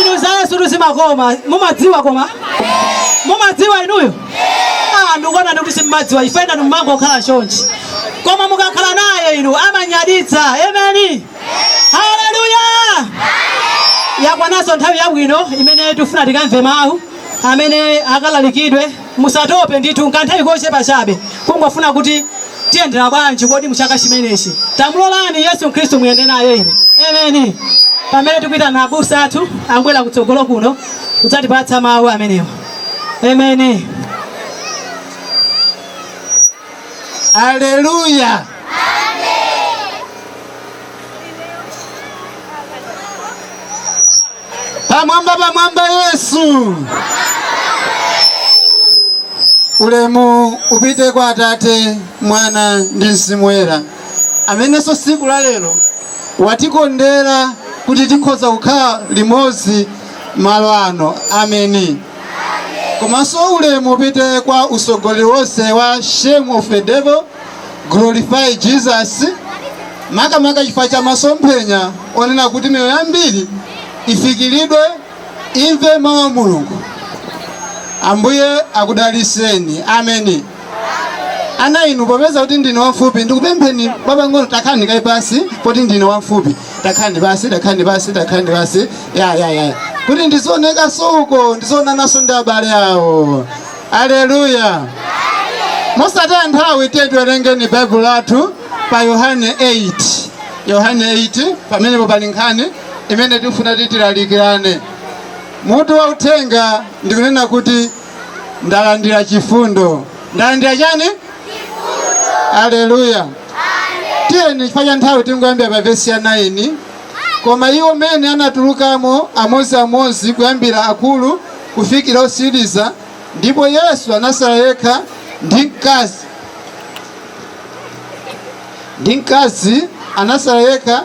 Inu za Yesu tuzimakoma mumadziwa koma mumadziwa inuyo ah, ndikuona ndikuti simmadziwa ife ndi mumangokhala chonchi koma mukakhala naye inu amanyaditsa ameni haleluya yakwanaso nthawi yabwino imene tifuna tikamve mawu amene akalalikidwe Musatope ndithu, nkanthawi kochepa chabe kungofuna kuti tiyendera bwanji kodi m'chaka chimenechi tamulolani yesu khristu muyende naye inu ameni pamene tikuitana abusa athu akubwera kutsogolo kuno kudzatipatsa mawu amenewa ameni Aleluya! pamwamba pamwamba yesu ulemu upite kwa atate mwana ndi mzimu woyera amenenso siku la lero watikondera kuti tikhoza kukhala limodzi malo ano ameni komanso ulemu upite kwa usogoleri wonse wa shame of the devil Glorify Jesus, makamaka chifukwa cha masomphenya onena kuti miyoyo yambiri ifikiridwe imve mawu a mulungu ambuye akudaliseni ameni ana inu popeza kuti ndine wamfupi ndikupempheni pang'ono takhalani kaye pansi poti ndine wamfupi takhalani pansi takhalani pansi takhalani pansi ya ya ya kuti ndizionekaso uko ndizionanaso ndi abale awo aleluya mosataya nthawi tiye tiwerengeni baibulo lathu pa yohane 8 yohane 8 pamenepo pali nkhani imene tikufuna kuti tilalikirane mutu wa uthenga ndikunena kuti ndalandira chifundo ndalandira chani aleluya tiyeni chifukwa cha nthawi tingoyambira pa vesi ya 9 koma iwo mene anatulukamo amozi amozi kuyambira akulu kufikira osiriza, ndipo Yesu anasala yekha ndi mkazi ndi mkazi anasala yekha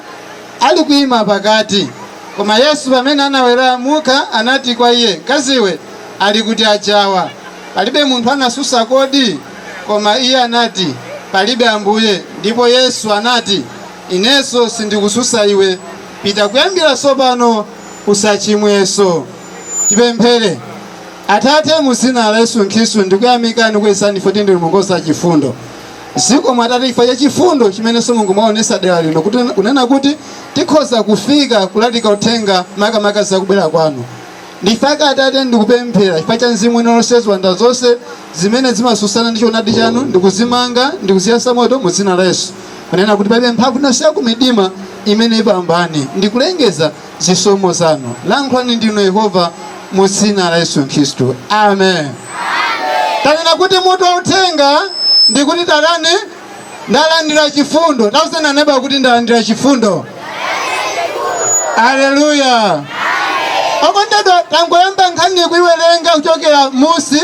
ali kuima pakati. Koma Yesu pamene anaweramuka anati kwa iye, mkaziwe, ali kuti ajawa? Palibe munthu anasusa kodi? Koma iye anati, palibe Ambuye. Ndipo Yesu anati, inenso sindikususa iwe, pita kuyambira sopano usachimwenso. Tipemphere. Atate, mu dzina la Yesu Khristu ndikuyamikani kuyesani ife kuti ndinu Mulungu wopatsa chifundo. Zikomo Atate chifukwa cha chifundo chimenenso Mulungu mwaonetsa dera lino kuti kunena kuti tikhoza kufika kulalika uthenga makamaka za kubwera kwanu. Nchifukwa chake Atate ndikupemphera chifukwa cha mzimu wina uliwonse ziwanda zonse zimene zimatsutsana ndi choonadi chanu ndikuzimanga ndikuziyatsa moto mu dzina la Yesu. Kunena kuti palibe mphamvu ina iliyonse ya kumidima imene ipambane ndikulengeza zisomo zanu. Lankhulani ndinu Yehova mu dzina la Yesu Khristu. Amen. Tanena kuti mutu wa uthenga ndi kuti tatani ndalandira chifundo. Tauzeni aneba kuti ndalandira chifundo. Aleluya. Okondedwa tangoyamba nkhani kuiwerenga kuchokera musi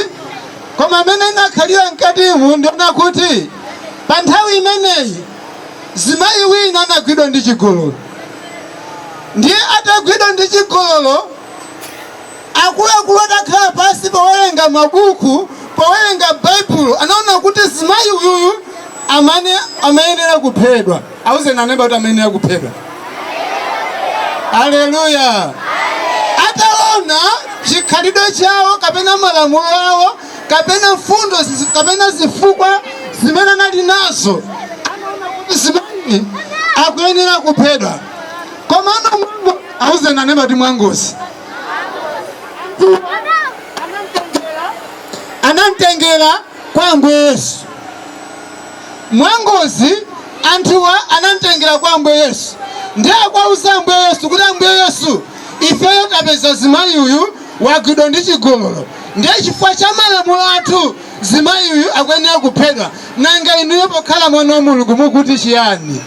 koma mmene inakhalira mkatimu ndi yonena kuti pa nthawi imeneyi Zimayi wina anagwidwa ndi chigololo. Ndiye atagwidwa ndi chigololo, akuluakulu atakhala pansi powerenga mabuku, powerenga Baibulo, anaona kuti zimayi uyuyu amane amayenera kuphedwa. Auzeni aneba kuti amayenera kuphedwa. Aleluya! Ataona chikhalidwe chawo kapena malamulo awo kapena mfundo zizi- kapena zifukwa zimene anali nazo anaona kuti zimayi akuyenera kuphedwa koma ana mwango auzeni aneba kuti mwangozi anamtengera kwa ambuye yesu mwangozi anthuwa anamtengera kwa ambuye yesu ndiye akuwauza ambuye yesu kuti ambuye yesu ifeyo tapeza zimayi uyu wagwidwa ndi chigololo Ndiye chifukwa cha malamulo athu zimayi uyu akuyenera kuphedwa. Nanga inuyo pokhala mwana wa Mulungu mukuti chiyani?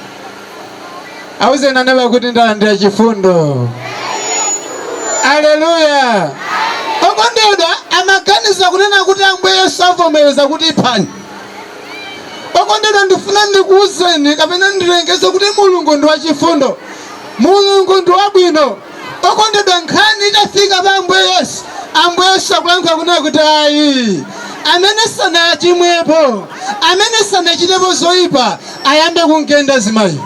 Auzeni aneba kuti ndalandira chifundo. Aleluya. Okondedwa amaganiza kunena kuti Ambuye Yesu avomereza kuti iphani. Okondedwa ndifuna ndikuuzeni kapena ndilengeze kuti Mulungu ndi wachifundo. Mulungu ndi wabwino. Okondedwa nkhani itafika pa Ambuye Yesu, Ambuye Yesu akulankhula kunena kuti ayi, amene sanachimwepo, amene sanachitepo zoipa ayambe kumgenda zimayiyu.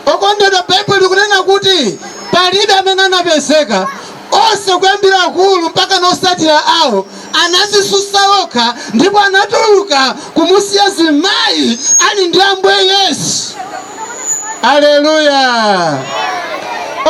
Okondedwa Baibulo likunena kuti palibe amene anapezeka onse kuyambira akulu mpakana osatira awo anazisusa okha ndipo anatuluka kumusiya zimayi ali ndi ambuye yesu aleluya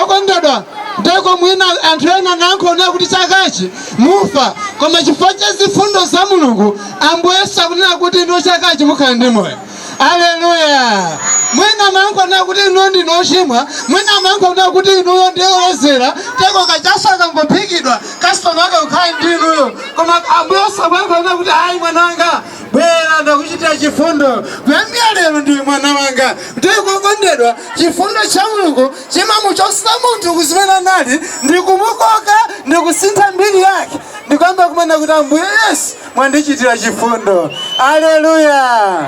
okondedwa ndeko mwina anthu ena analankhula kuti chakachi mufa koma chifukwa cha zifundo za mulungu ambuye yesu akunena kuti inuyo chakachi mukhala ndi moyo aleluya mwina amakunenani kuti inuyo ndinu ochimwa mwina amakunenani kuti inuyo ndiye olozera tero kachasu kakangophikidwa kasitoma amakhala ndi inuyo koma ambuye yesu amanena kuti ayi mwana wanga bwera ndakuchitira chifundo kuyambira lero ndiwe mwana wanga tero okondedwa chifundo cha mulungu chimamuchotsa munthu kuzimene anali ndikumukoka ndikusintha mbiri yake ndikuyamba kunena kuti ambuye yesu mwandichitira chifundo aleluya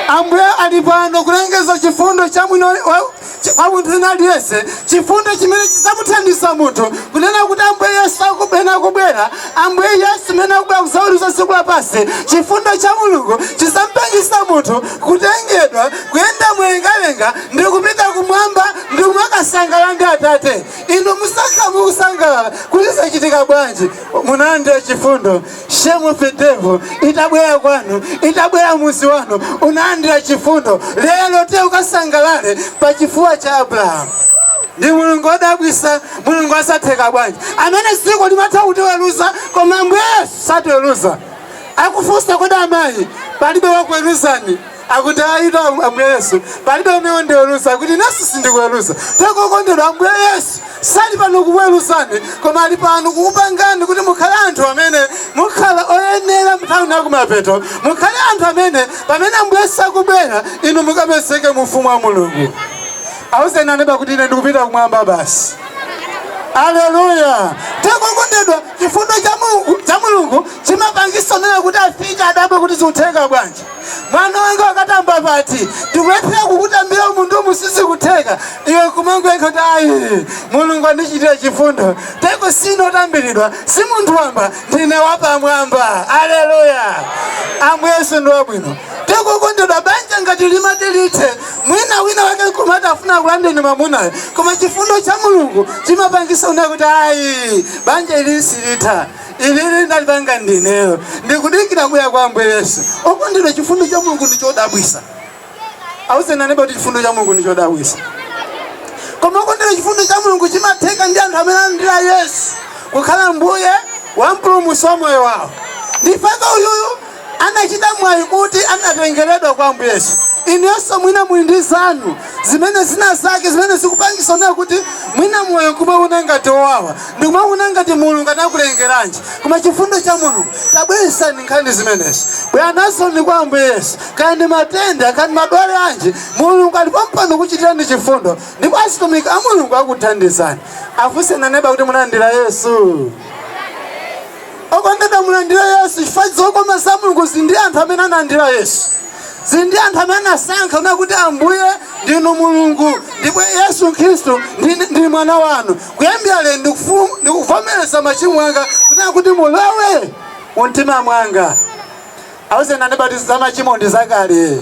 ambuye ali pano kulengeza chifundo cha mwini wa- wa- cha- kwa munthu wina aliyense chifundo chimene chidzamuthandiza munthu kunena kuti ambuye yesu akubwera kubwera ambuye yesu amene akubwera kuzaweruza dziko lapansi chifundo cha mulungu chidzamupangitsa munthu kutengedwa kuyenda mlengalenga ndi kupita kumwamba ndi kumakasangalala ndi atate inu muzakhala mukusangalala kuti zachitika bwanji munalandira chifundo shame of the devil itabwera kwanu itabwera mmuzi wanu unalandira chifundo lero uti ukasangalale pa chifuwa cha abrahamu ndi mulungu odabwisa mulungu zimatheka bwanji amene dziko limatha kutiweruza koma ambuye yesu satiweruza akufunsa kodi amayi palibe wakuweruzani akuti ayi ambuye yesu palibe amene wandiweruza akuti inenso sindikuweruza tero okondedwa ambuye yesu sali pano kukuweruzani koma ali pano kukupangani kuti mukhale anthu amene mukhala oyenera mnthawi ino yakumapeto mukhale anthu amene pamene ambuye yesu akubwera inu mukapezeke mu ufumu wa mulungu awuzeni aneba kuti ine ndikupita kumwamba basi aleluya tero okondedwa chifundo cha mulungu chimapangisa onena kuti afike adabwe kuti zikutheka bwanji mwana wanga wakatamba pati tikulephera kukutambira munthu koma sizikutheka iwe kumangoyankha kuti ayi mulungu andichitira chifundo tero sindine otambiridwa si munthu wamba ndine wapamwamba aleluya ambuye yesu ndi wabwino tero okondedwa banja ngati limati lithe mwina wina wake amafuna akulandeni mamunayo koma chifundo cha mulungu chimapangisa kunena kuti ayi banja ili silitha ilili ndalipanga ndineyo ndikudikira kubwera kwa ambuye yesu okondedwa chifundo cha mulungu ndi chodabwisa awuzeni aneba kuti chifundo cha mulungu ndi chodabwisa koma okondedwa chifundo cha mulungu chimatheka ndi anthu amene alandira yesu kukhala mbuye wa mpulumusi wa moyo wawo ndipaka uyuyu anachita mwayi kuti anatengeredwa kwa Ambuye Yesu. Inuyonso mwina muli ndi zanu zimene zina zake zimene zikupangisa kunena kuti mwina moyo nkumawona ngati owawa ndikumawona ngati Mulungu anakulengeranji, koma chifundo cha Mulungu tabweretsani nkhani zimenezi bwerani nazo kwa Ambuye Yesu. Kaya ndi matenda kaya ndi madwalanji, Mulungu ali pompano kukuchitirani chifundo ndipo azitumiki a Mulungu akuthandizani. Afunseni aneba kuti munalandira Yesu? Okondedwa mulandire Yesu chifukwa zokoma za Mulungu zili ndi anthu amene analandira Yesu. Zili ndi anthu amene anasankha kunena kuti Ambuye ndinu Mulungu ndipo Yesu Khristu ndi, ndi mwana wanu. Kuyambira lero ndikufu- ndikuvomereza machimo anga kunena kuti mulowe mu mtima mwanga. Awuzeni andipatiza machimo ndi zakale.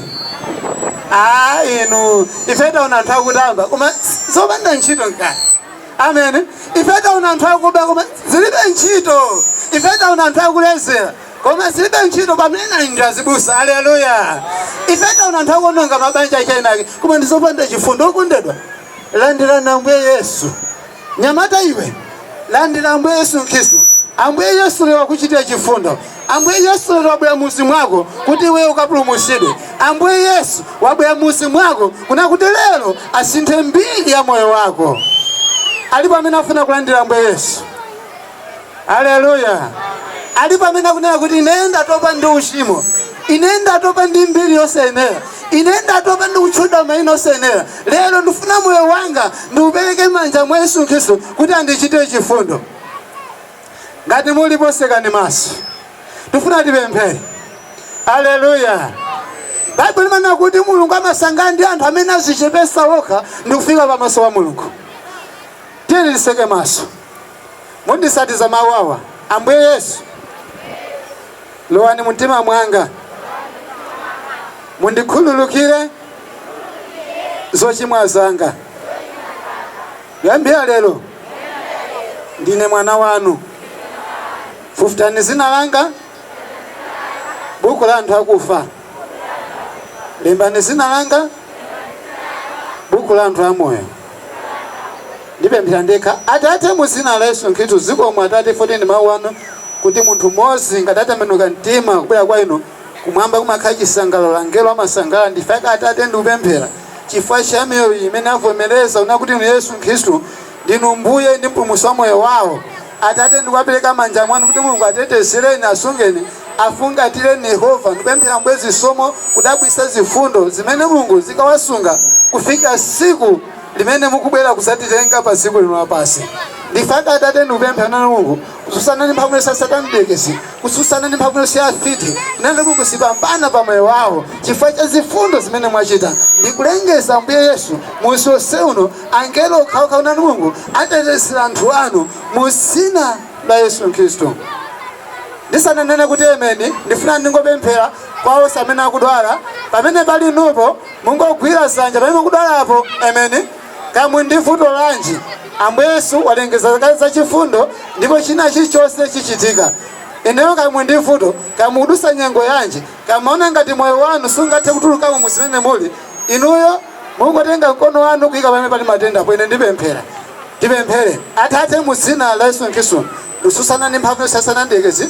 Ah, inu ife taona anthu akutamba koma zopanda ntchito mkale. amen ife taona anthu akuba koma zilibe ntchito ife taona anthu akulezera koma zilibe ntchito pamene ndi azibusa aleluya ife taona anthu akuononga mabanja achainake koma ndizopanda chifundo okondedwa landirani ambuye yesu nyamata iwe landira ambuye yesu khristu ambuye yesu lero wakuchitira chifundo Ambuye Yesu lero wabwera muzi mwako kuti iweyo ukapulumutsidwe. Ambuye Yesu wabwera muzi mwako kunena kuti lero asinthe mbiri ya moyo wako. Alipo amene afuna kulandira Ambuye Yesu? Haleluya! Alipo amene akunena kuti ine ndatopa ndi uchimo, ine ndatopa ndi mbiri yosayenera, ine ndatopa ndi kutchedwa maina osayenera, lero ndifuna moyo wanga ndiupereke m'manja mwa Yesu Khristu kuti andichitire chifundo. ngati mulipo tsekani maso tifuna tipemphere aleluya baibulo limanena kuti mulungu amasangalala ndi anthu amene adzichepetsa okha ndi kufika pamaso pa mulungu tiyeni titseke maso munditsatize mawu awa ambuye yesu lowani mumtima mwanga mundikhululukire zochimwa zanga Kuyambira lero ndine mwana wanu. Fufutani dzina langa m'buku la anthu akufa. Lembani dzina langa m'buku la anthu amoyo. Ndipemphere ndekha. Atate, mu dzina la Yesu Khristu, zikomo Atate, poti ndi mawu anu kuti munthu mmodzi ngati atembenuka mtima kubwera kwa inu Kumwamba kumakhala chisangalalo, angelo amasangalala n'chifukwa chake Atate ndikupemphera chifukwa cha miyoyo iyi imene avomereza kunena kuti Inu Yesu Khristu ndinu Mbuye ndi Mpulumutsi wa moyo wao. Atate ndikuwapereka m'manja mwanu kuti Mulungu atetezereni, asungeni, afungatireni Yehova ndikupemphera Ambuye zisomo zodabwitsa zifundo zimene Mulungu zikawasunga kufikira tsiku limene mukubwera kudzatitenga padziko lino lapansi. N'chifukwa chake Atate ndikupemphera a inu Mulungu kutsutsana ndi mphamvu yonse ya satana mdierekezi kutsutsana ndi mphamvu yonse ya afiti kunena kuti sizipambana pa moyo wawo chifukwa cha zifundo zimene mwachita ndikulengeza ambuye yesu muzi wonse uno angelo okhaokha a inu mulungu atetezera anthu anu mu dzina la yesu khristu ndisananene kuti emeni ndifuna ndingopemphera kwa onse amene akudwala pamene pali nupo mungogwira dzanja pamene mukudwalapo emeni Kaya muli ndi vuto lanji, Ambuye Yesu walengeza kale za chifundo ndipo china chilichonse chichitika. Ndiyeno kaya muli ndi vuto, kaya mukudusa nyengo yanji, kaya maona ngati moyo wanu sungathe kutulukamo mu zimene muli, inuyo mungotenga mkono wanu kuyika pamene pali matenda apo, ine ndipemphera. Tipemphere. Atate mu dzina la Yesu Khristu, ndikutsutsana ndi mphamvu ya Satana mdyerekezi,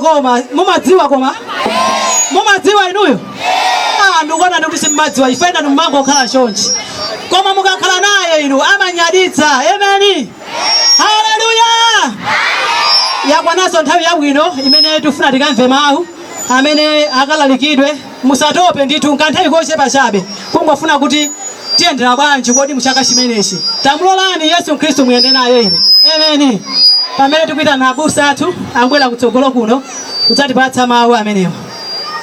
koma mumadziwa koma mumadziwa inuyo ah, ndikuona ndikuti simmadziwa ife enafe timangokhala chonchi koma mukakhala naye inu amanyaditsa emeni haleluya yakwananso nthawi yabwino imene tifuna tikamve mawu amene akalalikidwe musatope ndithu nkanthawi kochepa chabe kungofuna kuti tiyendera bwanji kodi muchaka chimenechi tamulolani yesu khristu muyende naye inu emeni pamene tikuyitana abusa athu abwere kutsogolo kuno kudzatipatsa mawu amenewa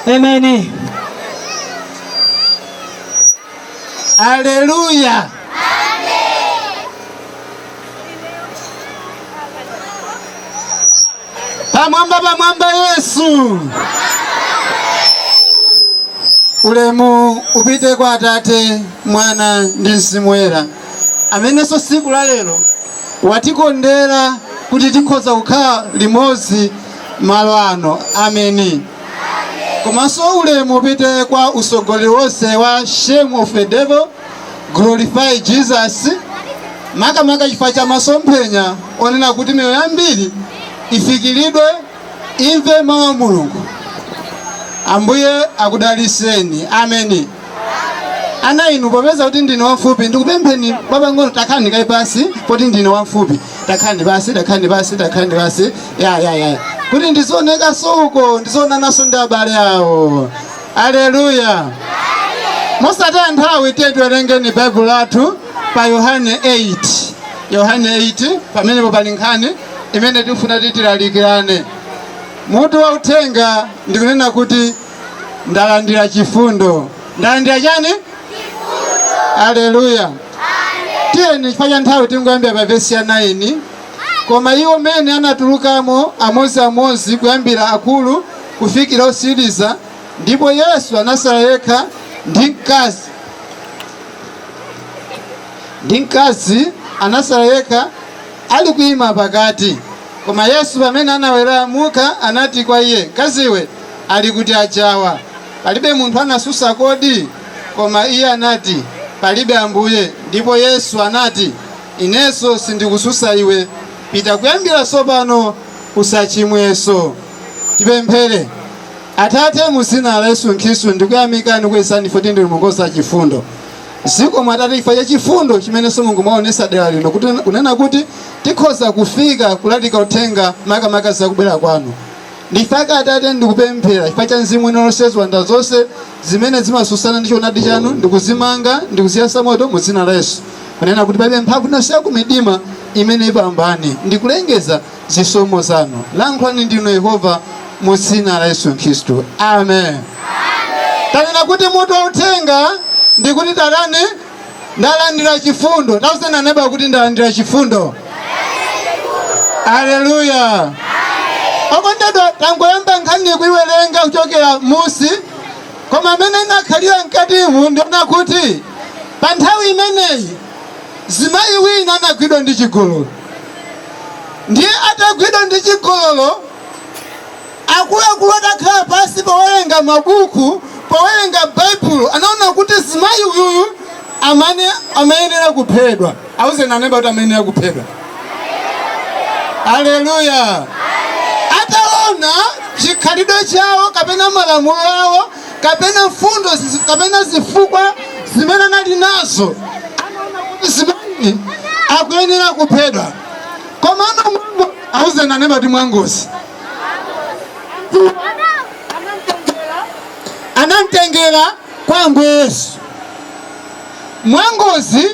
emeni Aleluya! Pamwamba pamwamba Yesu. Ulemu upite kwa Atate, Mwana ndi Mzimu Woyera, amenenso tsiku la lero watikondera kuti tikhoza kukhala limodzi malo ano. Ameni. komanso ulemu upite kwa usogoleri wonse wa shame the devil glorify jesus makamaka chifukwa cha masomphenya onena kuti miyoyo yambiri ifikiridwe imve mawu a mulungu ambuye akudaliseni ameni ana inu popeza kuti ndine wamfupi ndikupempheni apang'ono takhani kaye pasi poti ndine wamfupi takhani pasi takhani pasi takhani pasi ya ya ya kuti ndizionekanso uko ndizionananso ndi abale awo aleluya mosataya nthawi tiye tiwerengeni baibulo lathu pa yohane 8 yohane 8 pamenepo pali nkhani imene tikufuna tilalikirane mutu wa uthenga ndikunena kuti ndalandira chifundo ndalandira chani aleluya tiyeni chifukwa cha nthawi tingoyambira pa vesi ya 9 koma iwo mene anatulukamo amodziamodzi kuyambira akulu kufikira osiriza ndipo yesu anasala yekha ndi mkazi ndi mkazi anasala yekha ali kuyima pakati koma yesu pamene anaweramuka anati kwa iye mkaziwe Ali kuti ajawa? Palibe munthu anasusa kodi? Koma iye anati, Palibe Ambuye. Ndipo Yesu anati, Inenso sindikususa iwe. Pita kuyambira tsopano usachimwenso. Tipemphere. Atate, mu dzina la Yesu Khristu, ndikuyamikani pozindikira kuti ndinu Mulungu wachifundo. Zikomo Atate chifukwa cha chifundo chimenenso Mulungu mwaonesa dera lino kuti kunena kuti tikhoza kufika kulalika uthenga makamaka za kubwera kwanu. Ndipo Atate ndikupemphera chifukwa cha mzimu wina lonse ziwanda zonse zimene zimasusana ndi choonadi chanu ndikuzimanga ndikuziyasa moto mu dzina la Yesu kunena kuti palibe mphamvu ina iliyonse ya kumidima imene ipambane ndikulengeza zisomo zanu lankhulani ndinu Yehova mu dzina la Yesu Khristu amen tanena kuti mutu wa uthenga ndikuti tatani ndalandira chifundo tauzani aneba kuti ndalandira chifundo aleluya okondedwa tangoyamba nkhani kuiwerenga kuchokera musi koma mmene inakhalira mkatimu ndi yonena kuti pa nthawi imeneyi zimayi wina anagwidwa ndi chigololo ndiye atagwidwa ndi chigololo Akuluakulu atakhala pansi powerenga mabuku powerenga Baibulo anaona kuti zimayi uyuyu amane amayenera kuphedwa. Auzeni aneba kuti amayenera kuphedwa. Aleluya. Ataona chikhalidwe chawo kapena malamulo awo kapena mfundo zizi- kapena zifukwa zimene anali nazo anaona kuti zimayi akuyenera kuphedwa. Komano mwango auzeni aneba kuti mwangozi. anamtengera kwa ambuye yesu mwangozi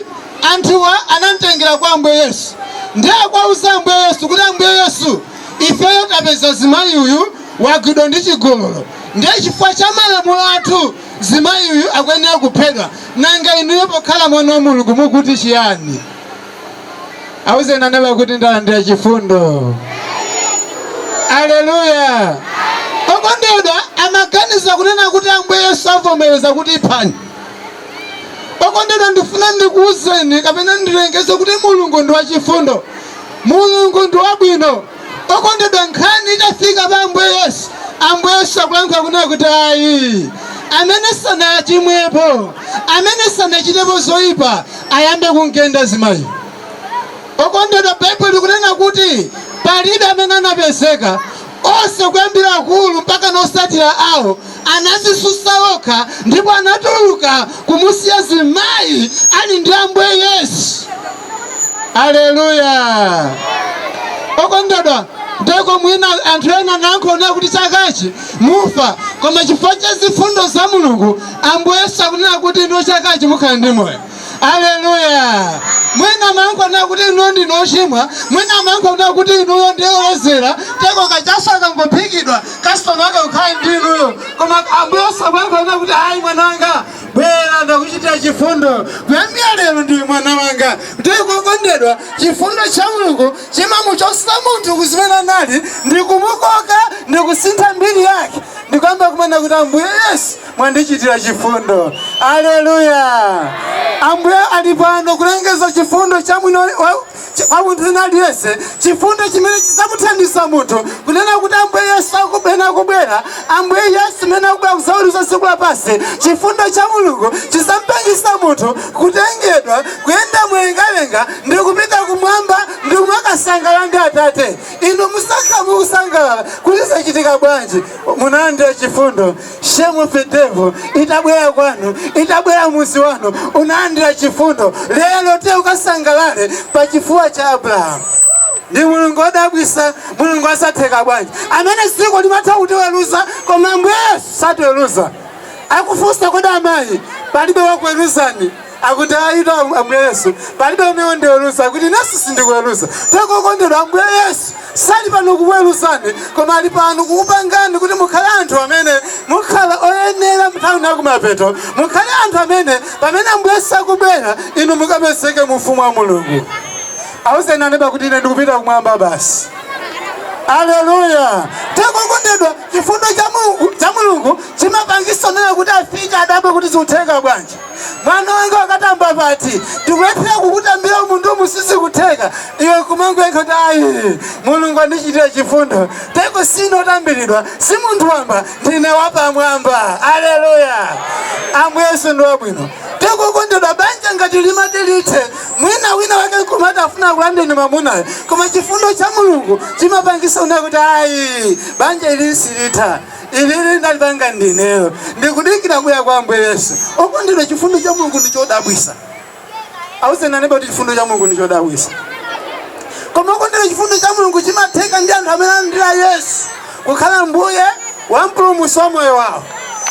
anthuwa anamtengera kwa ambuye yesu ndiye akwauza ambuye yesu kuti ambuye yesu ifeyo tapeza zimayi uyu wagwidwa ndi chigololo ndiye chifukwa cha malamulo athu zimayi uyu akuyenera kuphedwa nanga inuyo pokhala mwana wa mulungu mukuti chiyani auzeni aneba kuti ndalandira chifundo aleluya okondedwa amaganiza kunena kuti ambuye yesu avomereza kuti iphani okondedwa ndifuna ndikuuzeni kapena ndilengeze kuti mulungu ndi wachifundo mulungu ndi wabwino Okondedwa nkhani itafika pa Ambuye Yesu, Ambuye Yesu akulankhula kunena kuti ayi, amene sanachimwepo, amene sanachitepo zoipa ayambe kumgenda zimayiyu. Okondedwa Baibulo likunena kuti palibe amene anapezeka onse kuyambira akulu mpaka osatira awo anazisutsa okha ndipo anatuluka kumusiya zimayi ali ndi ambuye yesu aleluya okondedwa ndeko mwina anthu ena amakunena kuti chakachi mufa koma chifukwa cha zifundo za mulungu ambuye yesu akunena kuti inuyo chakachi mukhala ndi moyo aleluya mwina amakunenani kuti inuyo ndinu ochimwa mwina amakunenani kuti inuyo ndi olozera teko kachaso akangophikidwa kasitoma ake ukhale ndi inuyo koma ambuye yesu akunena kuti ayi mwana wanga bwera ndakuchitira chifundo kuyambira lero ndiwe mwana wanga teko okondedwa chifundo cha mulungu chimamuchotsa munthu kuzimene anali ndikumukoka ndikusintha mbiri yake ndikuyamba kunena kuti ambuye yesu mwandichitira chifundo aleluya ambuye ali pano kulengeza chifundo cha mwini kwa munthu wina aliyense chifundo chimene chidzamuthandiza munthu kunena kuti ambuye yesu akubwera akubwera ambuye yesu amene akubwera kuzaweruza dziko lapansi chifundo cha mulungu chidzamupangisa munthu kutengedwa kuyenda mlengalenga ndi kupita kumwamba ndi kumakasangalala ndi atate inu muzakha mukusangalala kuti zachitika bwanji munalandira chifundo shame on the devil itabwera kwanu itabwera mudzi wanu unalandira chifundo lero te ukasangalale pa chifuwa cha abrahamu ndi mulungu odabwisa mulungu wa zatheka bwanji amene dziko limatha kutiweruza koma ambuye yesu satiweruza akufunsa kodi amayi palibe wakuweruzani akuti ayitu ambuye yesu palibe amene wandiweruza akuti inenso sindikuweruza teko okondedwa ambuye yesu sali pano kukuweruzani koma ali pano kukupangani kuti mukhale anthu amene mukhala oyenera mnthawi yakumapeto mukhale anthu amene pamene ambuye yesu akubwera inu mukapezeke mu ufumu wa mulungu awuzeni aneba kuti ine ndikupita kumwamba basi aleluya teko okondedwa chifundo cha mulungu chimapangisa onena kuti afike adabwe kuti zikutheka bwanji mwana wanga wakatamba ati tikuyesera kukutambira iwe munthu koma sizikutheka iwe kumangoyankha kuti ayi mulungu andichitira chifundo teko si ine otambiridwa si munthu wamba ndine wapamwamba aleluya ambuye yesu ndi wabwino teko okondedwa banja ngati limati lithe mwina wina wake kumati afuna akulandeni mamunayo koma chifundo cha mulungu chimapangisa kunena kuti ayi banja ili silitha ilili ndalipanga ndineyo ndikudikira kubwera kwa ambuye yesu okondedwa chifundo cha mulungu ndi chodabwisa awuzeni aneba kuti chifundo cha mulungu ndi chodabwisa koma okondedwa chifundo cha mulungu chimatheka ndi anthu amene alandira yesu kukhala mbuye wa mpulumusi wa moyo wawo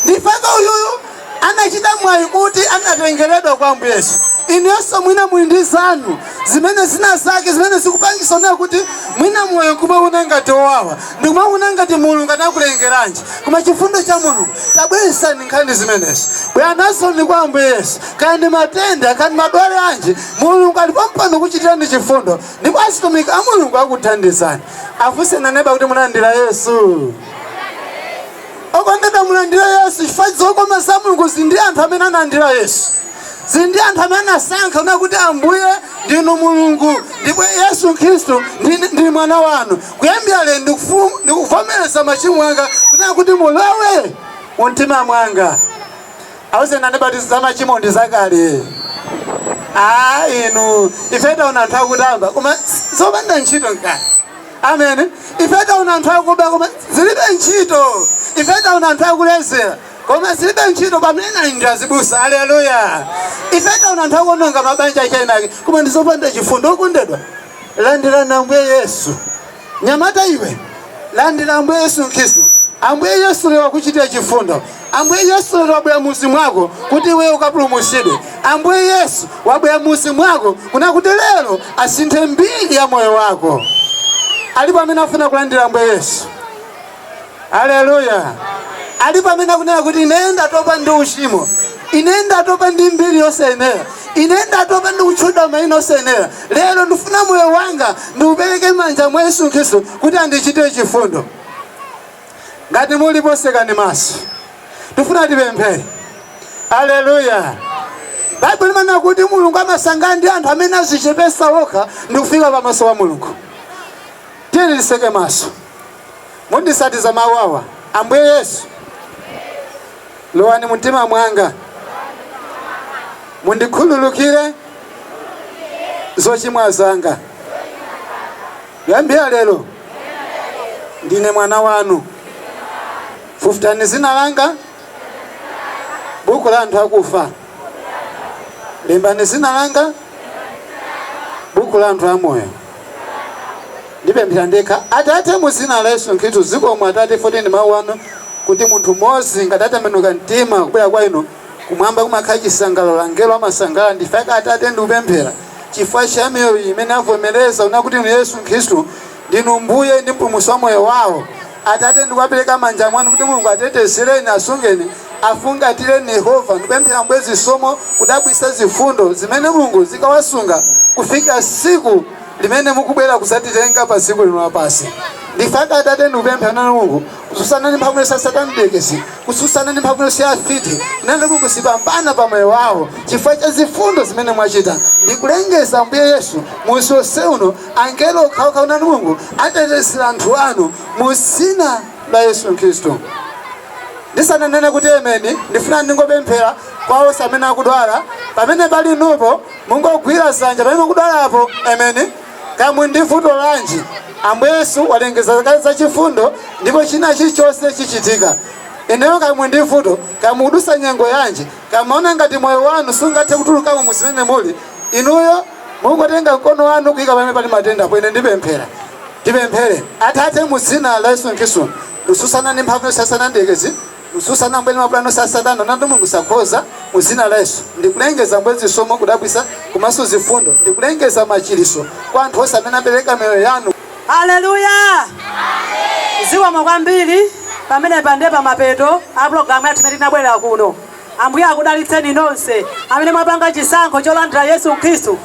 ndipaka uyuyu anachita mwayi kuti anatengeredwa kwa Ambuye Yesu. Inuyonso mwina muli ndi zanu zimene zina zake zimene zikupangitsa kunena kuti mwina moyo nkumawona ngati owawa ndikumawona ngati Mulungu anakulengeranji, koma chifundo cha Mulungu tabweretsani nkhani zimenezi bwera nazoni kwa Ambuye Yesu. Kaya ndi matenda kaya ndi madwale anji, Mulungu ali pompano kukuchitirani chifundo ndipo atumiki a Mulungu akuthandizani. Afunseni aneba kuti munalandira Yesu? okondedwa mulandire yesu chifukwa zokoma za mulungu zili ndi anthu amene analandira yesu zili ndi anthu amene anasankha kunena kuti ambuye ndinu mulungu ndipo yesu khristu ndi- ndi mwana wanu kuyambira lero ndikufu- ndikuvomereza machimo anga kunena kuti mulowe mu mtima mwanga awuzeni aneba kuti za machimo ndi zakale a inu ife taona anthu akutamba koma zopanda ntchito nkani amen ife taona anthu akuba koma zilibe ntchito ife taona anthu akulezera koma zilibe ntchito pamene ali ndi azibusa aleluya ife taona anthu akuononga mabanja a eniake koma ndizopanda chifundo okondedwa landirani ambuye yesu nyamata iwe landira ambuye yesu khristu ambuye yesu lero akuchitira chifundo Ambuye Yesu lero wabwera m'mudzi mwako kuti iweyo ukapulumutsidwe. Ambuye Yesu wabwera m'mudzi mwako kunena kuti lero asinthe mbiri ya moyo wako. Alipo amene afuna kulandira Ambuye Yesu? Haleluya! Alipo amene akunena kuti ine ndatopa ndi uchimo, ine ndatopa ndi mbiri yosayenera, ine ndatopa ndi kutchedwa maina osayenera, lero ndifuna moyo wanga ndiupereke m'manja mwa Yesu Khristu kuti andichitire chifundo. ngati mulipo sekani maso tifuna tipemphere aleluya baibulo limanena kuti mulungu amasangalala ndi anthu amene azichepesa okha ndi kufika pamaso pa mulungu tiyeni tiseke maso mundisatiza mawu awa ambuye yesu lowani mumtima mwanga mundikhululukire zochimwa zanga Kuyambira lero ndine mwana wanu. Fufutani dzina langa m'buku la anthu akufa. Lembani dzina langa m'buku la anthu amoyo. Ndipemphera ndekha. Atate, mu dzina la Yesu Khristu, zikomo Atate, poti ndi mawu anu kuti munthu mmodzi ngati atembenuka mtima kubwera kwa inu Kumwamba kumakhala chisangalalo, angelo amasangalala n'chifukwa chake Atate ndikupemphera chifukwa cha miyoyo iyi imene avomereza kunena kuti Inu Yesu Khristu ndinu Mbuye ndi Mpulumutsi wa moyo wao. Atate ndikuwapereka m'manja mwanu kuti Mulungu atetezereni, asungeni, afungatireni Yehova ndikupemphera Ambuye zisomo zodabwitsa zifundo zimene Mulungu zikawasunga kufikira tsiku limene mukubwera kudzatitenga padziko lino lapansi. N'chifukwa chake Atate ndikupemphera nanu Mulungu kutsutsana ndi mphamvu yonse ya Satana mdierekezi kutsutsana ndi mphamvu yonse ya afiti nanga kuti sizipambana pa moyo wawo chifukwa cha zifundo zimene mwachita ndi kulengeza ambuye yesu muzi wonse uno angelo okhaokha inu Mulungu atetezere anthu anu mu dzina la Yesu Khristu ndisananene kuti ameni ndifuna ndingopemphera kwa onse amene akudwala pamene pali inupo mungogwira dzanja pamene mukudwalapo ameni Kaya muli ndi vuto lanji, Ambuye Yesu walengeza kale za chifundo ndipo china chilichonse chichitika. Inuyo kaya muli ndi vuto, kaya mukudutsa nyengo yanji, kaya mumaona ngati moyo wanu sungathe kutulukamo mu zimene muli, inuyo mungotenga mkono wanu kuyika pamene pali matenda apo, ine ndipemphera. Tipemphere. Atate mu dzina la Yesu Khristu, ndikutsutsana ndi mphamvu yonse ya Satana mdierekezi, Kutsutsana Ambuye ndi mapulani onse a Satana natu mulungu sakhoza mu dzina la Yesu ndikulengeza ambuye zisomo kudabwitsa komanso zifundo ndikulengeza machiritso kwa anthu onse amene apereka miyoyo yanu. Haleluya Amen zikomo kwambiri pamenepa nde pamapeto a program yathu imene tinabwerera kuno ambuye akudalitseni nonse amene mwapanga chisankho cholandira Yesu Khristu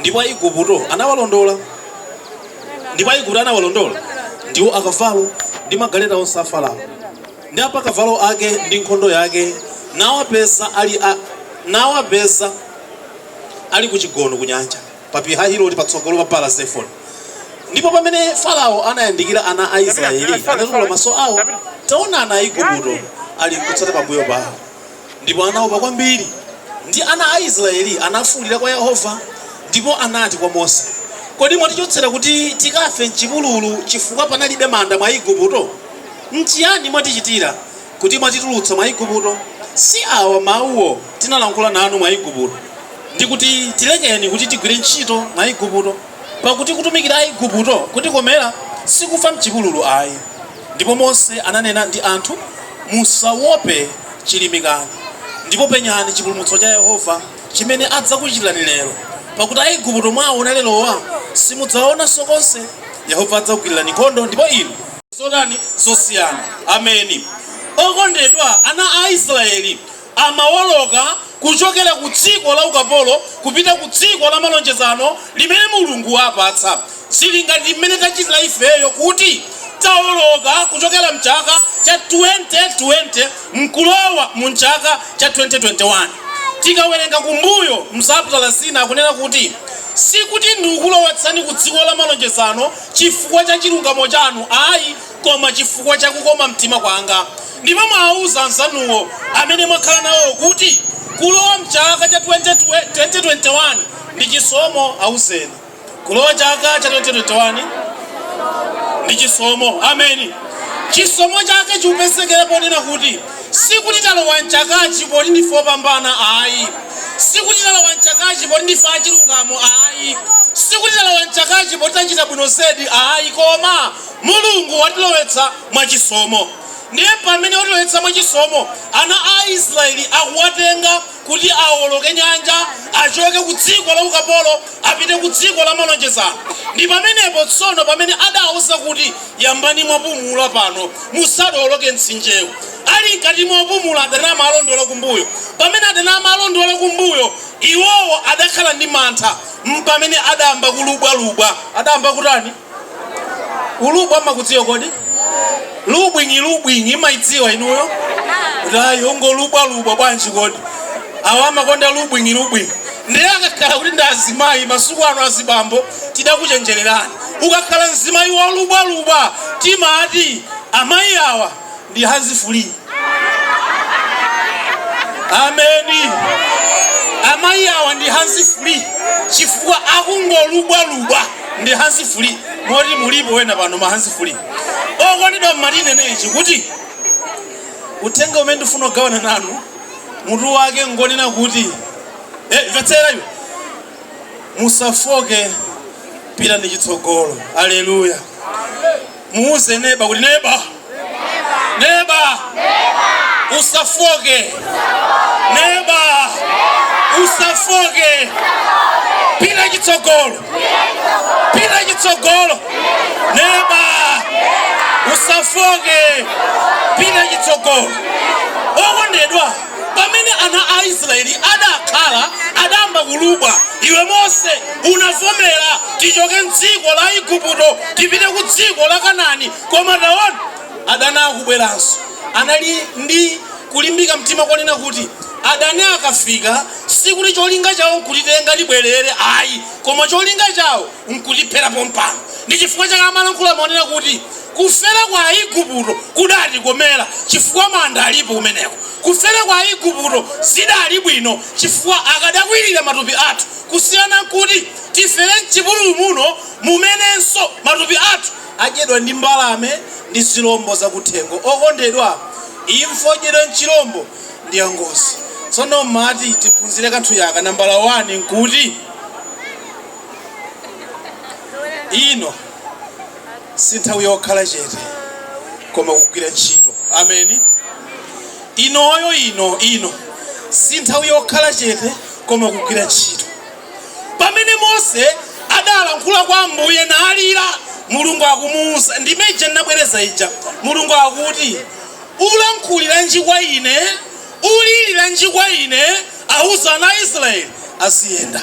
Ndipo Aiguputo anawalondola, ndipo Aiguputo anawalondola, ndiwo akavalo, ndi magaleta onse a Farao, ndi apakavalo ake, ndi nkhondo yake, nawapeza ali ku chigono ku nyanja pa Pihahiroti patsogolo pa Baala Zefoni. Ndipo pamene Farao anayandikira ana a Israeli, anatukula maso awo, taona ana a Igupto ali kutsata pambuyo pawo. Ndipo anaopa kwambiri, ndi ana a Israeli anafuulira kwa Yehova, ndipo anati kwa Mose, Kodi mwatichotsera kuti tikafe m'chipululu chifukwa panalibe manda m'Aigupto? N'chiyani mwatichitira, kuti mwatitulutsa m'Aigupto? Si awa mawuwo tinalankhula nanu m'Aigupto, ndi kuti, Tilekeni kuti tigwire ntchito m'Aigupto? Pakuti kutumikira Aaigupto kutikomera, si kufa m'chipululu ayi. Ndipo Mose ananena ndi anthu, Musawope, chilimikani, ndipo penyani chipulumutso cha Yehova, chimene adzakuchitirani lero, pakuti Aaigupto mwaawona lerowa, simudzawaonanso konse, Yehova adzakugwirirani nkhondo, ndipo inu. Zotani zosiyana! Ameni. Okondedwa ana a Israeli, amawoloka kuchokera ku dziko la ukapolo kupita ku dziko la malonjezano limene Mulungu wawapatsa. Zili ngati mmene tachitira ifeyo kuti tawoloka kuchokera m'chaka cha 2020 n'kulowa mu m'chaka cha 2021. Tikawerenga kumbuyo m'machaputala ena, akunena kuti, Sikuti ndikulowetsani ku dziko la malonjezano chifukwa cha chilungamo chanu ayi. koma chifukwa cha kukoma mtima kwanga. Ndipo muwauze anzanuwo amene mwakhala nawowo kuti, Kulowa m'chaka cha 2021 ndi chisomo. Auzeni. Kulowa chaka cha 2021 ndi chisomo. Ameni. Chisomo chake chikupezekera ponena kuti, Sikuti talowa m'chakachi poti ndife opambana ayi. Sikuti talowa m'chakachi poti ndife achilungamo ayi. Sikuti talowa m'chakachi poti tachita bwino zedi ayi. Koma Mulungu watilowetsa mwa chisomo. Ndiye pamene watilowetsa mwa chisomo, ana a Israeli akuwatenga kuti awoloke nyanja, achoke ku dziko la ukapolo apite ku dziko la malonjezano. Ndi pamenepo tsono pamene adawauza kuti, yambani mwapumula pano, musadowoloke mtsinjewu. Ali m'kati mopumula adani amawalondola kumbuyo. Pamene adani amawalondola kumbuyo, iwowo adakhala ndi mantha, mpamene adayamba kulubwalubwa. Adayamba kutani? kulubwa mumakudziwa kodi lubwinyi lubwinyi mumaidziwa inuyo ati akungolubwalubwa bwanji kodi awa amakonda lubwinyi lubwinyi ndiye akakhala kuti ndi azimayi masiku ano azibambo tidakuchenjererani ukakhala mzimayi wolubwalubwa timati amayi awa ndi hands free ameni amayi awa ndi hands free chifukwa akungolubwalubwa ndi hands free moti mulipo ena pano ma hands free okondedwa mmati ndinene ichi kuti uthenga umene ndifuna kugawana nanu mutu wake ngonena kuti eh, mvetsera iwe musafoke pita ndi chitsogolo aleluya muuze neba kuti neba neba usafoke neba usafoke pita chitsogolo pita chitsogolo neba usafoke pita chitsogolo okondedwa Pamene ana a Israyeli adakhala adayamba kulubwa, iwe, Mose, unavomera ticoke m'dziko la Iguputo, tipite ku dziko la Kanani, koma taona, adani akubweranso, anali ndi kulimbika mtima konena kuti, Adani akafika, sikuti colinga cao nkutitenga tibwerere ai, koma colinga cao nkutiphera pompano. Ndi cifukwa cake amalankhula monena kuti. Kufera kwa Iguputo kudatikomera, chifukwa manda alipo kumeneko. Kufera kwa Iguputo zidali bwino, chifukwa akadakwirira matupi athu, kusiyana nkuti tifere m'chipululu muno, mumenenso matupi athu adyedwa ndi mbalame ndi zilombo zakuthengo. Okondedwa, imfa yodyedwa nchilombo, ndi yangozi. Tsono m'mati tiphunzire kanthu yaka, nambala wani, nkuti ino. si nthawi yokhala chete koma kugwira ntchito ameni inoyo ino ino si nthawi yokhala chete koma kugwira ntchito pamene mose adalankhula kwa ambuye nalira mulungu akumuwuza ndime ija ndinabwereza ija mulungu akuti ulankhuliranji kwa ine uliliranji kwa ine awuza ana a israeli aziyenda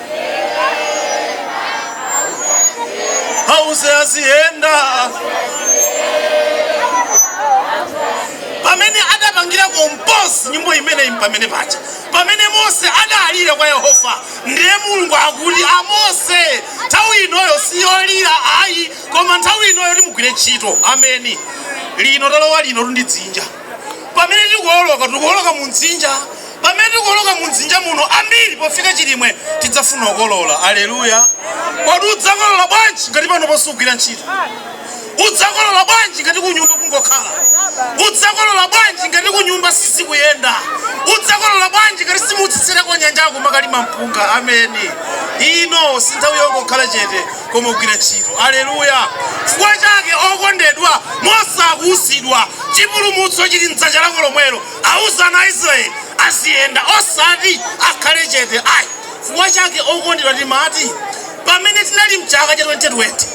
auze aziyenda pamene adapangira komposi nyimbo imeneyi pamene paja pamene mose adalira kwa yehova ndiye mulungu akuti amose nthawi inoyo siyolira ayi koma nthawi inoyo timugwire ntchito ameni lino talowa lino tundidzinja pamene tikuoloka tikuoloka mu dzinja Pamene tikuoloka mu dzinja muno ambiri pofika chilimwe tidzafuna kukolola. Aleluya! Kodi udzakolola bwanji ngati panopo sugwira ntchito? Udzakolola bwanji ngati kunyumba kungokhala? Udzakolola bwanji ngati kunyumba sizikuyenda? Udzakolola bwanji ngati simutsetsereka kunyanja kumakalima mpunga? Ameni. Ino si nthawi yongokhala chete koma kugwira ntchito. Aleluya! Chifukwa chake okondedwa, Mose akuuzidwa chipulumutso chili mdzanja lako lomwelo. Auze ana a Israele aziyenda, osati akhale chete ai. Chifukwa chake, okondedwa, timati, pamene tinali m'chaka cha 2020,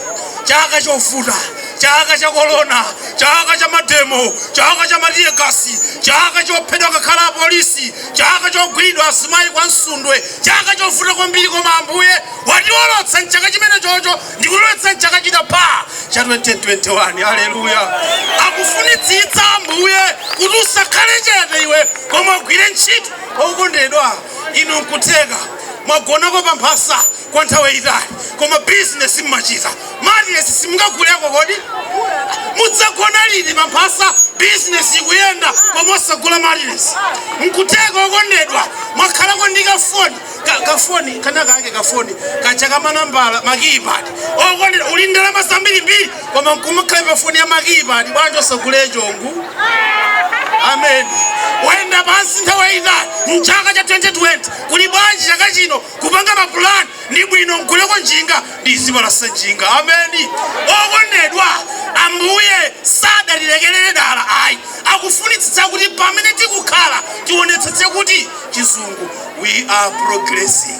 chaka chovuta, chaka cha korona, chaka cha mademo, chaka cha matiyegasi, chaka chophedwa ngakhale apolisi, chaka chogwiridwa azimai kwa Msundwe, chaka chovuta kwambiri, koma Ambuye watiolotsa m'chaka chimenechocho. ndikulowetsa m'chaka chinapa cha 2021 aleluya akufunitsitsa ambuye kuti usakhale chete iwe koma ugwire ntchito okondedwa inu nkutheka mwagonako pa mphasa kwa nthawi yayitali koma bizinesi mmachita matiresi simungaguleko kodi mudzagona liti pa mphasa bizinesi ikuyenda koma osagula matiresi nkutheka okondedwa mwakhalako ndi kafoni ka, kafoni kanakake kafoni kaja kamanambala makiyipad okondedwa uli ndalama zambirimbiri koma nkumakhala pa foni ya makiyipad bwanji osagula yoshongu amen wayenda pansi nthawi yayitali mchaka cha 2020 kuti bwanji chaka chino kupanga mapulani ndi bwino ndiguleko njinga ndizipalasa njinga ameni okondedwa ambuye sadatilekerere dala ayi akufunitsitsa kuti pamene tikukhala tionetsetse kuti chizungu We are progressing.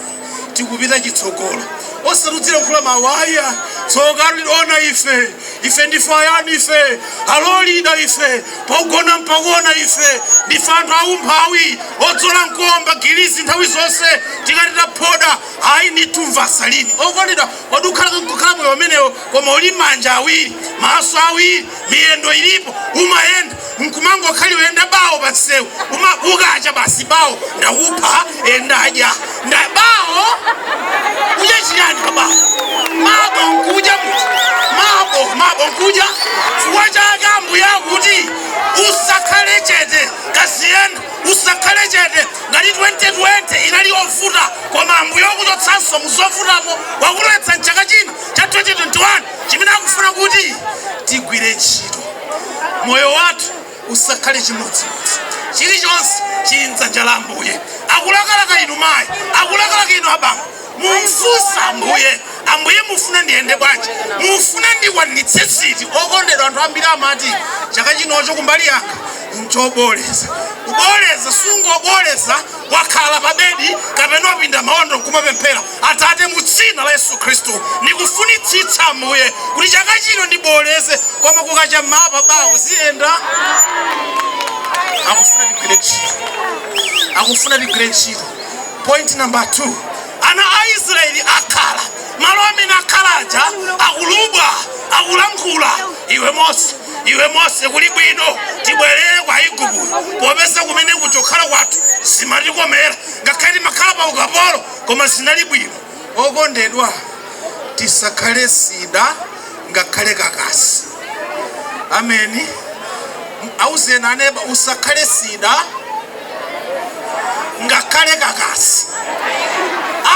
Tikupita chitsogolo. Osatudzira kula mawaya. Tsoka liona ife. Ife ndife ayani ife. Alolida ife. Pogona mpagona ife. Ndife anthu aumphawi. Odzola nkomba gilizi nthawi zonse. Tikati taphoda. Ayi ndithu mvasalini. Okondedwa wadukhala nkukhala moyo umenewo koma uli manja awiri, maso awiri, miyendo ilipo, umayenda. mkumangokhaliwe nda bawo panseu kukacha basi bawo ndakupha eh, ndadya nda bawo udya chiyani ka bawo mabawo nkudya muti mabawo nkudya chifukwa chake ambuye akuti usakhale chete kaziyenda usakhale chete ngati 2020 inali yovuta koma ambuye wakuchotsanso muzovutamo wakulowetsa mchaka chino cha 2021 chimene akufuna kuti tigwire ntchito moyo wathu usakhale chimodzimodzi chilichonse chili mdzanja la ambuye akulakalaka inu mayi akulakalaka inu abambo mumfunse ambuye ambuye mufuna ndiyende bwanji mufuna ndikwanitse ziti okondedwa anthu ambiri amati chaka chinocho kumbali yanga nchobooleza kubooleza sungobooleza wakhala pa bedi kapena wapinda maondo nkumapemphera, Atate, mu Dzina la Yesu Khristu, ndikufunitsitsa, Ambuye, kuti chaka chino ndibooleze, koma kukacha mmawa pa bawo ziyenda. Akufuna tigwire ntchito, akufuna tigwire ntchito. Point number two, ana a Israeli akhala malo amene akhala aja akulubwa akulankhula, iwe Mose iwe mose kuli bwino tibwerere kwa aigupto popeza kumene kuja kukhala kwathu zimatikomera ngakhale timakhala pa ukapolo koma zinali bwino okondedwa tisakhale sida ngakhale kakasi ameni auzeni aneba usakhale sida ngakhale kakasi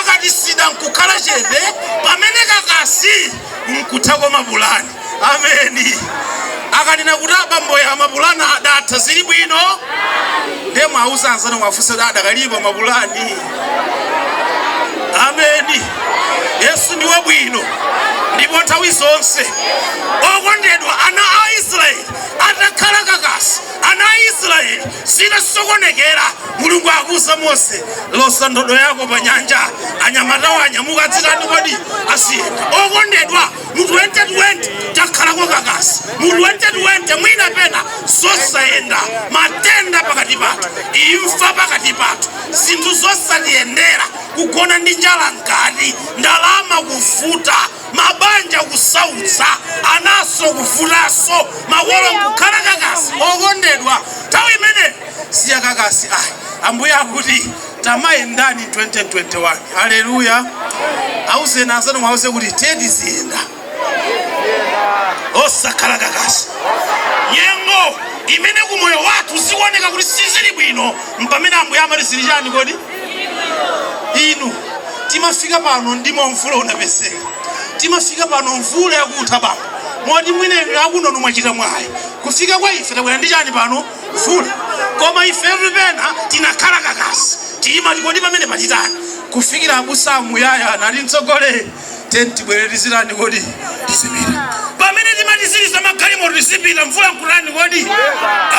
akati sida nkukhala chete pamene kakasi nkutha kwa mapulani ameni akanena kuti abambowa mapulani adatha zili bwino ndiye muwauze anzanu muwafunse adakalipo mapulani ameni yesu ndi wabwino ndipo nthawi zonse okondedwa ana a israeli atakhala kakasi ana a israeli zinasokonekera mulungu akuuza mose loza ndodo yako pa nyanja anyamatawa anyamuka dzitani kodi aziyenda okondedwa mu 2020 takhalako kakasi mu 2020 mwina pena zosayenda matenda pakati pathu imfa pakati pathu zinthu zosatiyendera kugona ndi njala mkati ndalama kuvuta mabanja kusautsa anaso kuvutaso makolo kukhala kakasi okondedwa nthawi imene si ya kakasi ambuye akuti Tamayendani 2021 haleluya auzeni anzanu mwauze kuti tiye tiziyenda osakhala kakasi nyengo imene ku moyo wathu zikuoneka kuti sizili bwino mpamene ambuye amati zili chani kodi inu timafika pano ndi momwe mvula inapezeka timafika pano mvula yakutha bambo moti mwineni akunonu mwachita mwayi kufika kwa ife tabwera ndi chani pano Mvula koma ife pena tinakhala kakasi timati kodi pamenepa titani kufikira abusa amuyaya anali mtsogoleri tiye tibwere tizitani kodi tizipita pamene timati tiliza magalimoto tizipita mvula nkutani kodi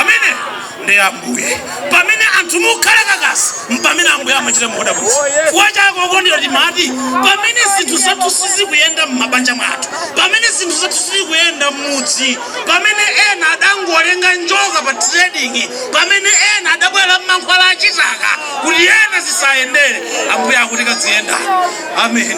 amene ndi ambuye pamene anthu mukhala kakasi mpamene ambuye amachita zodabwitsa kuwa chako okondedwa timati pamene zinthu zathu sizikuyenda m'mabanja mwathu pamene zinthu zathu sizikuyenda m'mudzi Pamene ena adangolenga njoka pa trading, pamene ena adabwera ndi mankhwala a chitaka kuti ena zisayendere, Ambuye akuti kadziyenda. Ameni.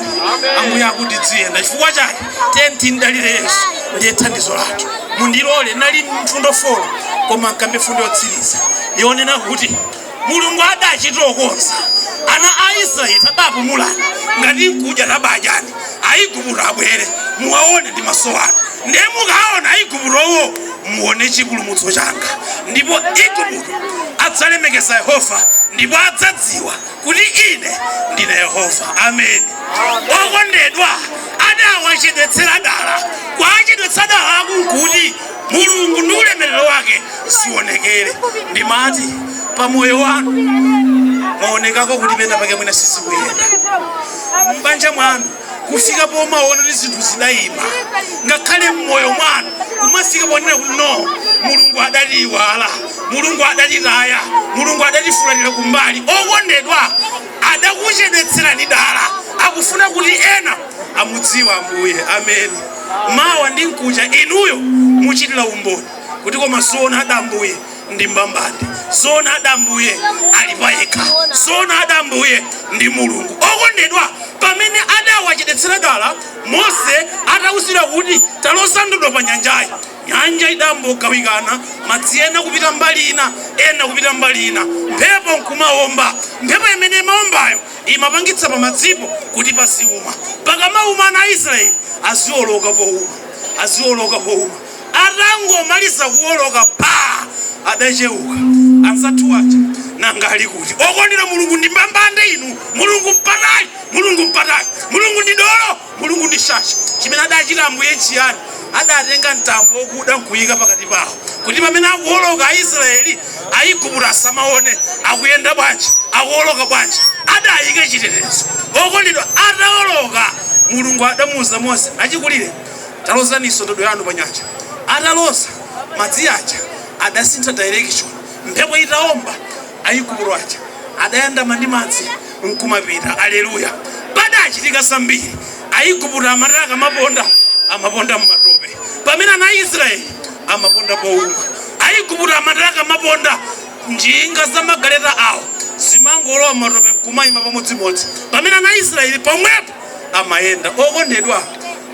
Ambuye akuti dziyenda. Chifukwa chake tiyeni timdalire Yesu, ndiye thandizo lathu. Mundilole, nali mfundo 4 koma nkambe mfundo yotsiriza yonena kuti Mulungu adachita kuuza ana a Israeli tabapumulani ngati n'kudya tabadyani Aigupto abwere muwaone ndi maso anu ndiye mukaona Aiguptowo muone chipulumutso changa ndipo Igupto adzalemekeza Yehova ndipo adzadziwa kuti ine ndine Yehova Ameni Okondedwa adawachedwetsera dala kuwachedwetsa dalaku nkuti Mulungu ndi ulemerero wake zionekere. Ndimati pa moyo wanu mwaonekako kuti pena pake mwina sizikuyenda m'banja mwanu kufika pomaona kuti zinthu zidayima, ngakhale m'moyo mwanu kumafika ponena kuti no, Mulungu adatiiwala, Mulungu adatitaya, Mulungu adatifulatira kumbali. Okondedwa, adakuchedwetserani dala, akufuna kuti ena amudziwe ambuye amen mawa ndi mkucha inuyo muchitira umboni kuti koma zoona ada ambuye ndi mbambande zoona ada ambuye ali payekha zoona ada ambuye ndi mulungu okondedwa pamene adawachedetsera dala mose atawuzidwa kuti taloza ndodo pa nyanjayi nyanja idambogawikana madzi ena kupita mbali ina ena kupita mbali ina mphepo nkumawomba mphepo imene imawombayo Imapangitsa pamadzipo kuti paziuma. Pakamauma ana a Israeli azioloka pouma, azioloka pouma. Atangomaliza kuoloka phaa! Adacheuka. Anzathu aja nanga ali kuti? Okondedwa Mulungu ndi mbambande inu! Mulungu mpatali! Mulungu mpatali! Mulungu ndi dolo! Mulungu ndi shasha. Chimene adachita Ambuye nchiyani? Adatenga mtambo wokuda nkuika pakati pao, kuti pamene akuwoloka Aisraele, Aigupto asamaone. Akuyenda bwanji? Akuwoloka bwanji? Adaika chitetezo. Okondedwa, ataoloka, Mulungu adamuuza Mose, Achikulire, talozaninso ndodo yanu pa nyanja. Ataloza, madzi aja adasintha direction. Mphepo itaomba, Aigupto aja adayandama ndi madzi. nkumapita aleluya padachitika zambiri aigupto amati akamaponda amaponda mmatope pamene ana aisraeli amaponda pouma aigupto amati akamaponda njinga za magaleta awo zimangolowa mmatope nkumayima pamodzimodzi pamene ana aisraeli pomwepo amayenda okondedwa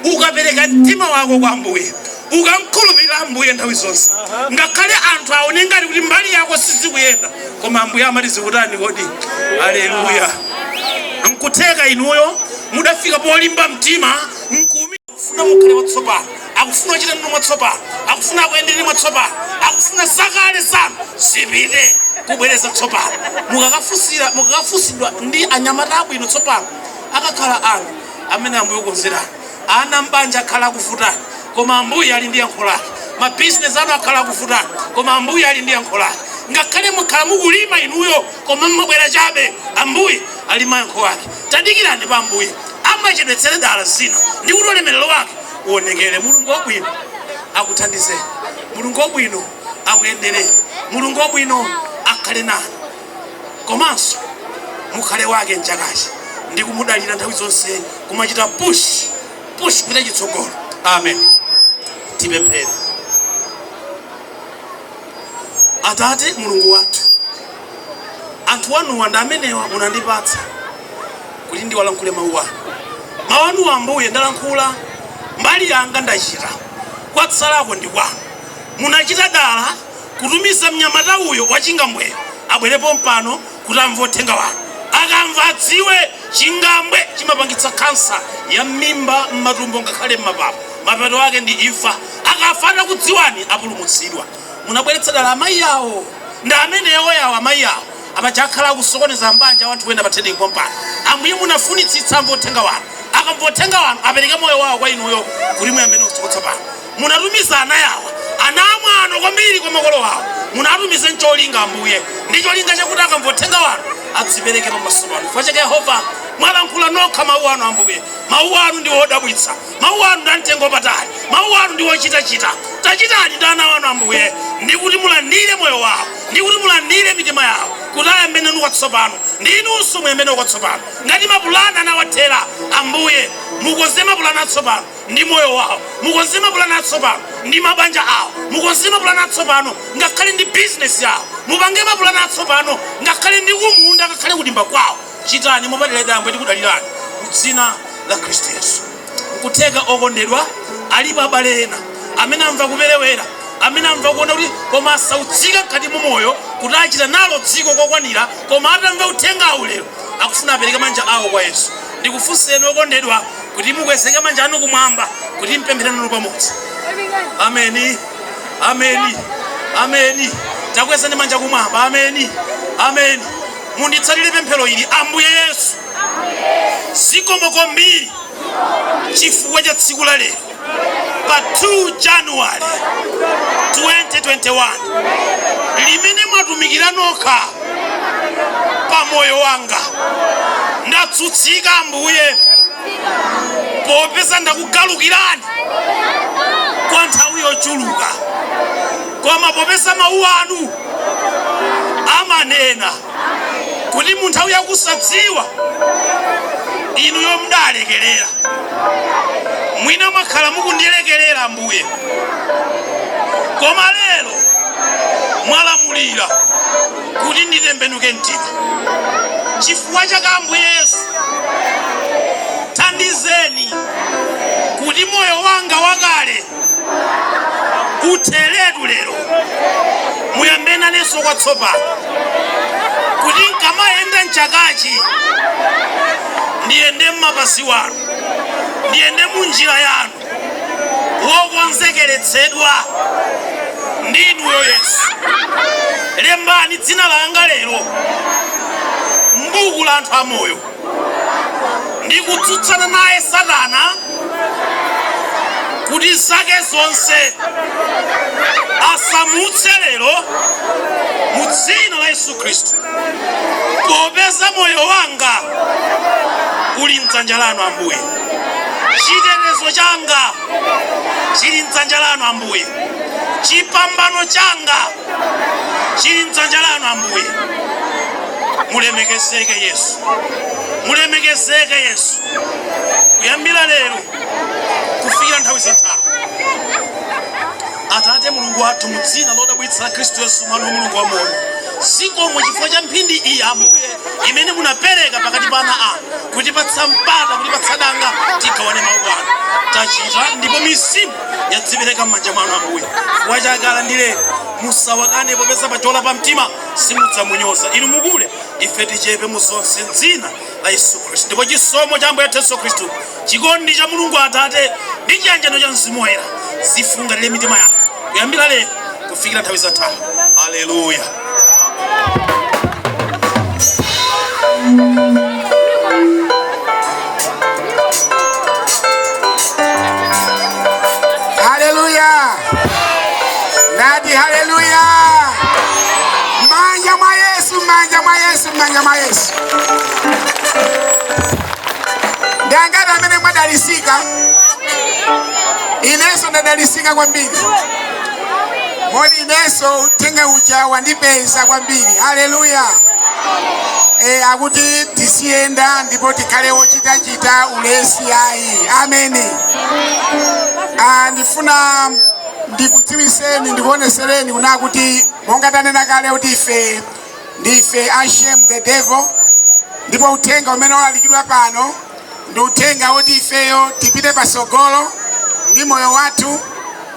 Ukapereka mtima wako kwa Ambuye, ukamkhulupirira Ambuye nthawi zonse, ngakhale anthu aone ngati kuti mbali yako sizikuyenda, koma Ambuye amati zikutani kodi? Aleluya! Nkutheka inuyo mudafika polimba mtima akufuna mukhale watsopano, akufuna kuchita nanu mwatsopano, akufuna akuyendereni mwatsopano, akufuna zakale zanu zipite kubwereza tsopano. Mukakafunsira mukakafunsidwa ndi anyamata abwino tsopano akakhale anu amene ambuye akukonzerani ana mbanja akhala akuvutani koma ambuye ali ndi yankho lake mabizinesi anu akhala akuvutani koma ambuye ali ndi yankho lake ngakhale mwakhala mukulima inuyo koma mmabwera chabe ambuye ali mayankho ake tadikirani pa ambuye amachedwetsera dala zina ndi kuti ulemerero wake uonekere mulungu wabwino akuthandizeni mulungu wabwino akuyendereni mulungu wabwino akhale nanu komanso mukhale wake mchakachi ndi kumudalira nthawi zonse kumachita push push pita chitsogolo amen tipemphere atate mulungu wathu anthu anuwa ndi amenewa munandipatsa kuti ndiwalankhule mawu anu mawu anu ambuye ndalankhula mbali yanga ndachita kwatsalako ndi kwanu munachita dala kutumiza mnyamata uyo wa chingambweyo abwere pompano kuti amve Uthenga wanu. Akamva, adziwe, chingambwe chimapangitsa kansa ya mmimba, mmatumbo, ngakhale mmapapu. Mapeto ake ndi imfa. Akafa atakudziwani, apulumutsidwe. Munabweretsa dala amayi awo. Ndi amenewo awo, amayi awo. Apa akhala akusokoneza mbanja a anthu ena pa theniki pompano. Ambuye, munafunitsitsa amve Uthenga wanu. Akamva Uthenga wanu, apereke moyo wawo kwa Inuyo, kuti muyambe nawo tsopano. Munatumiza ana awa, ana amwano kwambiri kwa makolo awo, munawatumiza ncholinga, Ambuye, ndi cholinga chakuti akamva Uthenga Wanu adzipereke pamaso Panu. Chifukwa chake, Yehova, mwalankhula nokha Mawu Anu, Ambuye. Mawu Anu ndiwo odabwitsa. Mawu Anu ndi amtengo wapatali. Mawu Anu ndiwo ochitachita. Tachitani ndi ana Anu, Ambuye, ndi kuti mulandire moyo wawo, ndi kuti mulandire mitima yawo, kuti ayambe Nanu kwatsopano, ndi Inunso muyambe nawo kwatsopano. Ngati mapulani anawathera, Ambuye, mukonze mapulani atsopano. ndi moyo wawo, mukonze mapulani atsopano ndi mabanja awo, mukonze mapulani atsopano ngakhale ndi bizinesi yawo, mupange mapulani atsopano ngakhale ndi kumunda ngakhale kudimba kwawo, chitani mopadera ife Ambuye tikudalirani mu dzina la Khristu Yesu. Nkutheka okondedwa alipo abale ena amene amva kuperewera, amene amva kuona kuti koma asautsika mkati mu moyo kuti achita nalo dziko kokwanira, koma atamva uthengawu lero akufuna apereke manja awo kwa Yesu. Ndikufunseni okondedwa, kuti mukwezeke manja anu kumwamba kuti mpemphere nanu pamodzi ameni ameni ameni takwezani manja kumwamba ameni ameni munditsatire pemphero ili ambuye yesu zikomo kwambiri chifukwa cha tsiku la lero pa 2 January 2021 limene mwatumikira nokha pa moyo wanga. Ndatsutsika Ambuye popeza ndakugalukirani kwa nthawi yochuluka, koma popeza mawu anu amanena kuti mu nthawi yakusadziwa inuyo mudalekerera mwina mwakhala mukundilekerera ambuye koma lero mwalamulira kuti nditembenuke mtima chifukwa chake ambuye yesu thandizeni kuti moyo wanga wakale utheretu lero muyambe nanenso kwatsopano kuti nkamayenda mchakachi ndiyende mmapazi anu ndiyende munjira yanu wokonzekeretsedwa ndi inuyo yesu lembani dzina langa lero mbuku la anthu amoyo ndikutsutsana naye Satana kuti zake zonse asamutse lero mu dzina la Yesu Khristu, popeza moyo wanga uli mdzanja lanu Ambuye, chitetezo changa chili mdzanja lanu Ambuye, chipambano changa chili mdzanja lanu Ambuye. Mulemekezeke Yesu, mulemekezeke Yesu, kuyambira lero kufikira nthawi zosatha. Atate Mulungu wathu, mu dzina lodabwitsa la Khristu Yesu mwana wa Mulungu wa moyo, zikomo chifukwa cha mphindi iyi Ambuye imene munapereka pakati pa ana anu kutipatsa mpata kutipatsa danga tigawane mawu anu tachita ndipo mizimu yadzipereka m'manja mwanu ambuye chifukwa chake alandireni musawakane popeza wachola pa mtima simudzamunyoza inu mukule ife tichepe mu zonse m'dzina la yesu khristu ndipo chisomo cha ambuye athu yesu khristu chikondi cha mulungu atate ndi chiyanjano cha mzimu woyera zifungatire mitima yanu kuyambira lero kufikira nthawi zosatha haleluya haleluya ndati haleluya manja mwa yesu manja mwa yesu manja mwa yesu ndi angati amene mwadalisika inenso ndadalisika kwambiri moti inenso uthenga uja wandipeza kwambiri haleluya e, akuti tiziyenda ndipo tikhale ochitachita ulesi ayi ameni Ah, ndifuna ndikudziwiseni ndikuonesereni kunena kuti monga tanena kale kuti ife ndife ashame the devil ndipo uthenga umene walalikidwa pano ndi uthenga woti ifeyo tipite pasogolo ndi moyo wathu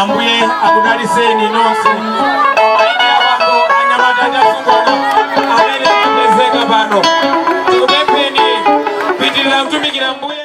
Ambuye akudaliseni nonse. Amayi ndi abambo anyamata ndi asungwana amene amapezeka pano. Tikupempheni kupitirira kutumikira Ambuye.